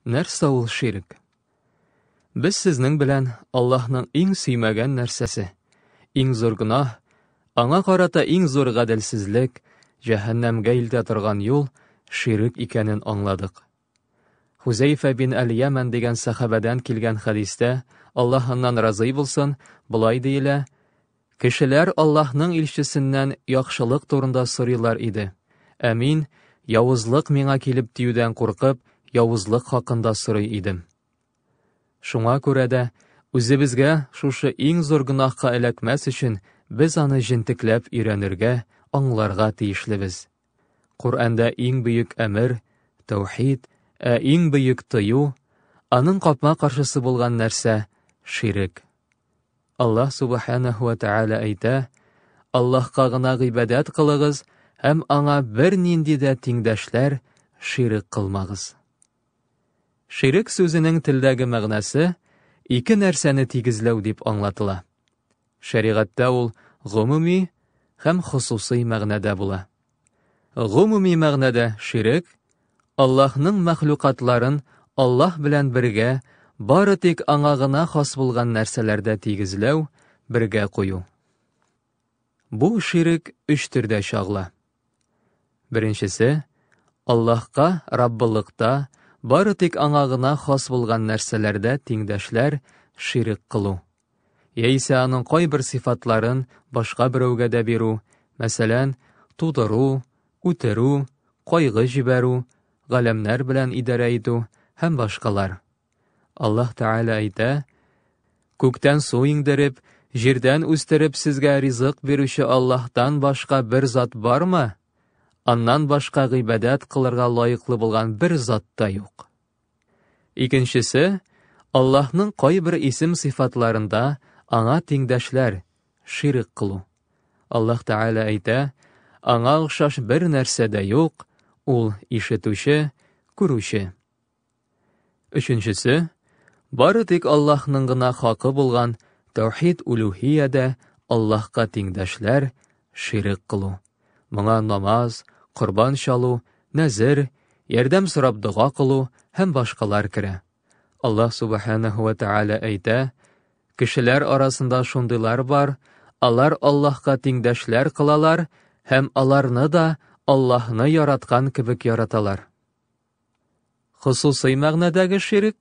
Нәрсә ул ширк? Без сезнең белән Аллаһның иң сөймәгән нәрсәсе, иң зур гөнаһ, аңа карата иң зур гаделсезлек, җәһәннәмгә илтә торган юл ширк икәнен аңладык. Хузәйфә бин Әл-Яман дигән сахабәдән килгән хәдистә, Аллаһ аннан разый булсын, болай диелә, Кешеләр Аллаһның илчесеннән яхшылык турында сорыйлар иде, ә мин, явызлык миңа килеп тиюдән куркып, явызлык хакында сорый идем. Шуңа күрә дә, үзебезгә шушы иң зур гөнаһка эләкмәс өчен, без аны җентекләп өйрәнергә, аңларга тиешлебез. Коръәндә иң бөек әмер, тәүхид, ә иң бөек тыю, аның капма-каршысы булган нәрсә, ширек. Аллаһ Субханәһу ва Тәгалә әйтә, Аллаһка гына гыйбадәт кылыгыз һәм аңа бернинди дә тиңдәшләр, ширек кылмагыз. Ширек сүзенең телдәге мәгънәсе ике нәрсәне тигезләү дип аңлатыла. Шәригатьтә ул гомуми һәм хосусый мәгънәдә була. Гомуми мәгънәдә ширек, Аллаһның мәхлукатларын Аллаһ белән бергә бары тик аңа гына хас булган нәрсәләрдә тигезләү, бергә кую. Бу ширек өч төрдә чагыла. Беренчесе, Аллаһка Раббылыкта бары тик аңа гына хас булган нәрсәләрдә тиңдәшләр, ширек кылу. яисә аның кайбер сыйфатларын башка берәүгә дә бирү, мәсәлән, тудыру, үтерү, кайгы җибәрү, галәмнәр белән идарә итү һәм башкалар. Аллаһ Тәгалә әйтә, Күктән су иңдереп, җирдән үстереп сезгә ризык бирүче Аллаһтан башка бер зат бармы? Аннан башка гыйбадәт кылырга лаеклы булган бер зат та юк. Икенчесе, Аллаһның кайбер исем-сыйфатларында аңа тиңдәшләр, ширк кылу. Аллаһ Тәгалә әйтә, Аңа охшаш бер нәрсә дә юк, ул ишетүче, күрүче. Өченчесе, бары тик Аллаһның гына хакы булган тәүхид улюһиядә Аллаһка тиңдәшләр, Ширек кылу. Моңа намаз, корбан чалу, нәзер, ярдәм сорап дога кылу һәм башкалар керә. Аллаһ Субханаһу ва Тәгалә әйтә, Кешеләр арасында шундыйлар бар, алар Аллаһка тиңдәшләр кылалар һәм аларны да Аллаһны яраткан кебек яраталар. Хосусый мәгънәдәге ширек,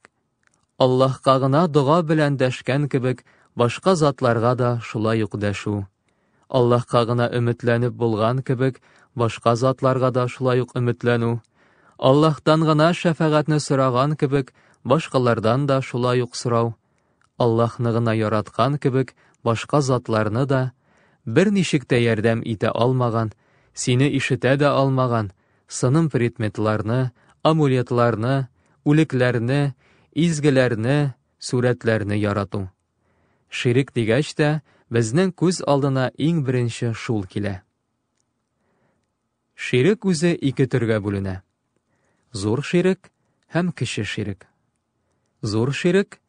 Аллаһка гына дога белән дәшкән кебек, башка затларга да шулай ук дәшү. Аллаһка гына өметләнеп булган кебек, башка затларга да шулай ук өметләнү. Аллаһтан гына шәфәгатьне сораган кебек, башкалардан да шулай ук сорау. Аллаһны гына яраткан кебек, башка затларны да, берничек тә ярдәм итә алмаган, сине ишетә дә алмаган, сыным предметларны, амулетларны, үлекләрне, изгеләрне, сурәтләрне ярату. Ширек дигәч тә, безнең күз алдына иң беренче шул килә. Ширек үзе ике төргә бүленә. Зур ширек һәм кече ширек. Зур ширек,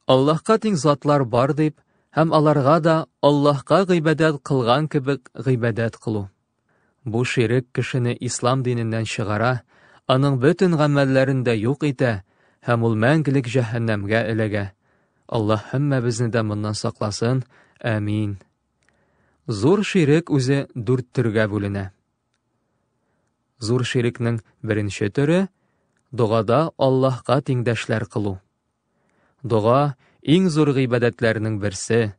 Аллаһка тиң затлар бар дип, һәм аларга да Аллаһка гыйбадәт кылган кебек гыйбадәт кылу. Бу ширек кешене ислам диненнән чыгара, аның бөтен гамәлләрен дә юк итә һәм ул мәңгелек җәһәннәмгә эләгә. Аллаһ һәммәбезне дә моннан сакласын. Әмин. Зур ширек үзе дүрт төргә бүленә. Зур ширекнең беренче төре, догада Аллаһка тиңдәшләр кылу. Дога, иң зур гыйбадәтләрнең берсе.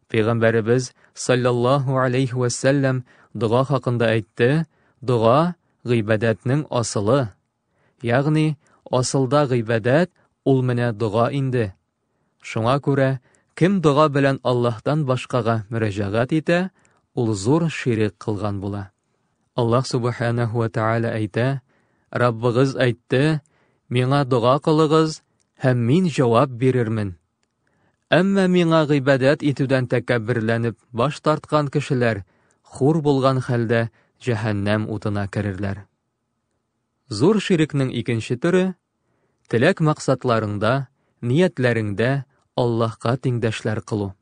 Пәйгамбәребез, саллаллаһу алейхи вәсәлләм, дога хакында әйтте, дога, гыйбадәтнең асылы, Ягъни, асылда гыйбадәт ул менә дога инде. Шуңа күрә, кем дога белән Аллаһтан башкага мөрәҗәгать итә, ул зур ширек кылган була. Аллаһ Субханәһу ва Тәгалә әйтә, Раббыгыз әйтте, Миңа дога кылыгыз, һәм мин җавап бирермен. Әмма миңа гыйбадәт итүдән тәкәбберләнеп баш тарткан кешеләр хур булган хәлдә җәһәннәм утына керерләр. Зур ширекнең икенче төре, теләк-максатларыңда, ниятләреңдә Аллаһка тиңдәшләр кылу.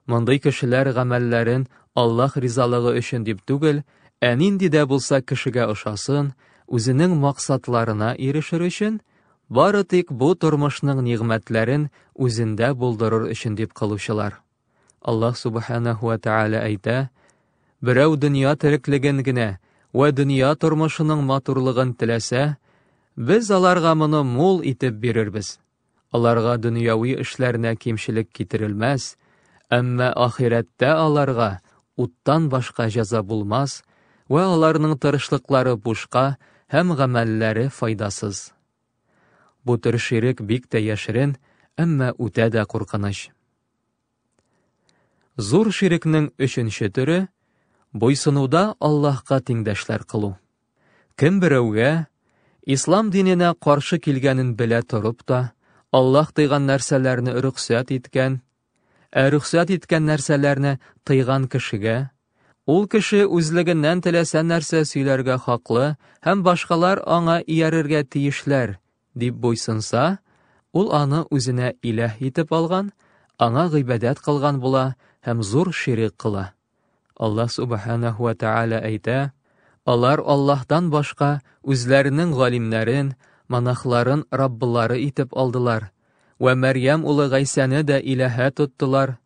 Мондый кешеләр гамәлләрен Аллаһ ризалыгы өчен дип түгел, ә нинди дә булса кешегә ошасын, үзенең максатларына ирешер өчен, бары тик бу тормышның нигъмәтләрен үзендә булдырыр өчен дип кылучылар. Аллаһ Субханәһу ва Тәгалә әйтә, Берәү дөнья тереклеген генә вә дөнья тормышының матурлыгын теләсә, без аларга моны мул итеп бирербез. Аларга дөньяви эшләренә кимчелек китерелмәс, әмма ахирәттә аларга уттан башка җәза булмас вә аларның тырышлыклары бушка һәм гамәлләре файдасыз. Бу төр ширек бик тә яшерен, әмма үтә дә куркыныч. Зур ширекнең өченче төре, буйсынуда Аллаһка тиңдәшләр кылу. Кем берәүгә, ислам диненә каршы килгәнен белә торып та, Аллаһ тыйган нәрсәләрне рөхсәт иткән, ә рөхсәт иткән нәрсәләрне тыйган кешегә, ул кеше үзлегеннән теләсә нәрсә сөйләргә хаклы һәм башкалар аңа иярергә тиешләр, дип буйсынса, ул аны үзенә иләһ итеп алган, аңа гыйбадәт кылган була һәм зур ширек кыла. Аллаһ субханаһу ва тааля әйтә, Алар Аллаһтан башка үзләренең галимнәрен, монахларын раббылары итеп алдылар, вә Мәрьям улы Гайсәне дә иләһә тоттылар.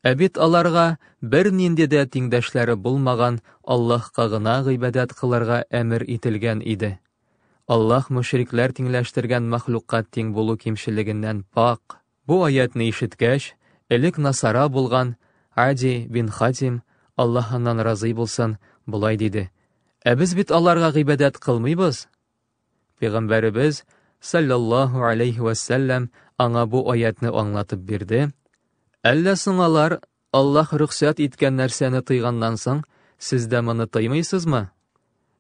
Ә бит аларга бернинди дә тиңдәшләре булмаган Аллаһка гына гыйбадәт кылырга әмер ителгән иде. Аллаһ мөшрикләр тиңләштергән мәхлукка тиң булу кимчелегеннән пакь. Бу аятьне ишеткәч, элек насара булган Ади бин Хатим, Аллаһ аннан разый булсын, болай диде, Ә без бит аларга гыйбадәт кылмыйбыз! Пәйгамбәребез, саллаллаһу алейһи вәссәлләм, аңа бу аятьне аңлатып бирде, Әллә соң алар Аллаһ рөхсәт иткән нәрсәне тыйганнан соң, сез дә моны тыймыйсызмы?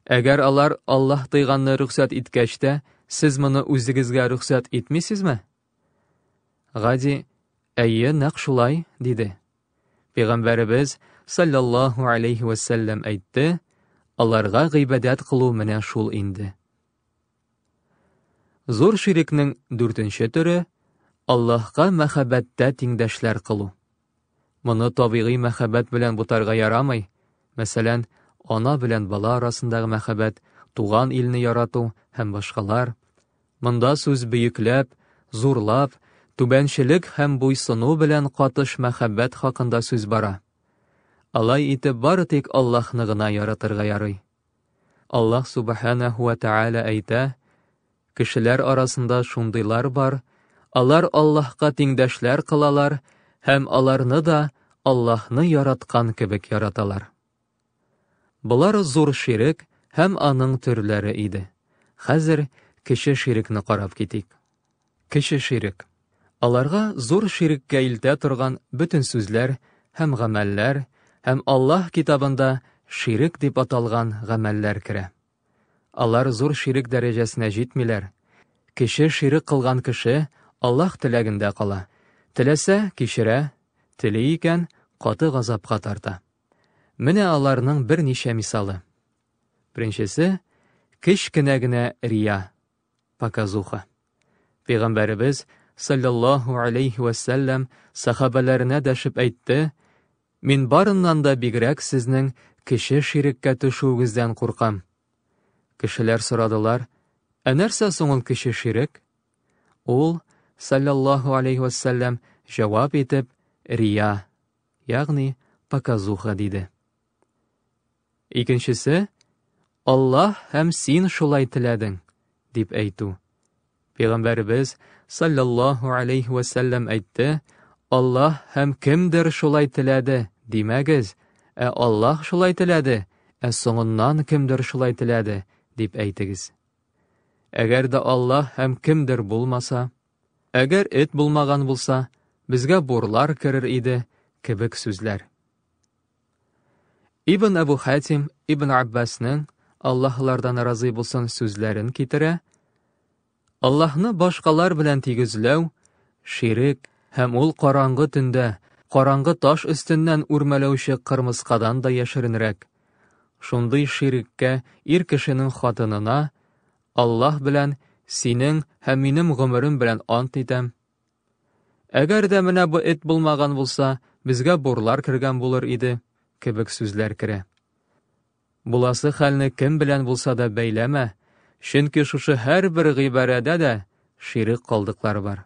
Әгәр алар Аллаһ тыйганны рөхсәт иткәч тә, сез моны үзегезгә рөхсәт итмисезме? Гади, әйе, нәкъ шулай, диде. Пәйгамбәребез саллаллаһу алейхи вәсәлләм әйтте, аларга гыйбадәт кылу менә шул инде. Зур ширекнең дүртенче төре Аллаһка мәхәббәттә тиңдәшләр кылу. Моны табигый мәхәббәт белән бутарга ярамый. Мәсәлән, ана белән бала арасындагы мәхәббәт, туган илне ярату һәм башкалар. Монда сүз бөекләп, зурлап, түбәнчелек һәм буйсыну белән катыш мәхәббәт хакында сүз бара. Алай итеп бары тик Аллаһны гына яратырга ярый. Аллаһ Субханәһу вә Тәгалә әйтә, Кешеләр арасында шундыйлар бар, алар Аллаһка тиңдәшләр кылалар һәм аларны да Аллаһны яраткан кебек яраталар. Болар зур ширек һәм аның төрләре иде. Хәзер кече ширекне карап китик. Кече ширек. Аларга зур ширеккә илтә торган бөтен сүзләр һәм гамәлләр һәм Аллаһ Китабында ширек дип аталган гамәлләр керә. Алар зур ширек дәрәҗәсенә җитмиләр. Кече ширек кылган кеше Аллаһ теләгендә кала, теләсә, кичерә, тели икән, каты газапка тарта. Менә аларның берничә мисалы. Беренчесе, кечкенә генә рия. Показуха. Пәйгамбәребез, саллаллаһу алейхи вә сәлләм, сахабәләренә дәшеп әйтте, Мин барыннан да бигрәк сезнең кеше ширеккә төшүегездән куркам. Кешеләр сорадылар, Ә нәрсә соң ул кеше ширек? Ул, саллаллаһу алейхи вә сәлләм, җавап итеп, Рия, ягъни показуха диде. Икенчесе, Аллаһ һәм син шулай теләдең, дип әйтү. Пәйгамбәребез саллаллаһу алейхи вә сәлләм әйтте, Аллаһ һәм кемдер шулай теләде, димәгез, ә Аллаһ шулай теләде, ә соңыннан кемдер шулай теләде, дип әйтегез. Әгәр дә Аллаһ һәм кемдер булмаса, әгәр эт булмаган булса, безгә бурлар керер иде, кебек сүзләр. Ибн Әбу Хәтим Ибн Аббасның Аллаһлардан разый булсын сүзләрен китерә. Аллаһны башкалар белән тигезләү, ширек һәм ул караңгы төндә, караңгы таш өстеннән үрмәләүче кырмыскадан да яшеренрәк. Шундый ширеккә ир кешенең хатынына Аллаһ белән синең һәм минем гомерем белән ант итәм, Әгәр дә менә бу эт булмаган булса, безгә бурлар кергән булыр иде, кебек сүзләр керә. Буласы хәлне кем белән булса да бәйләмә, чөнки шушы һәрбер гыйбарәдә дә ширек калдыклар бар.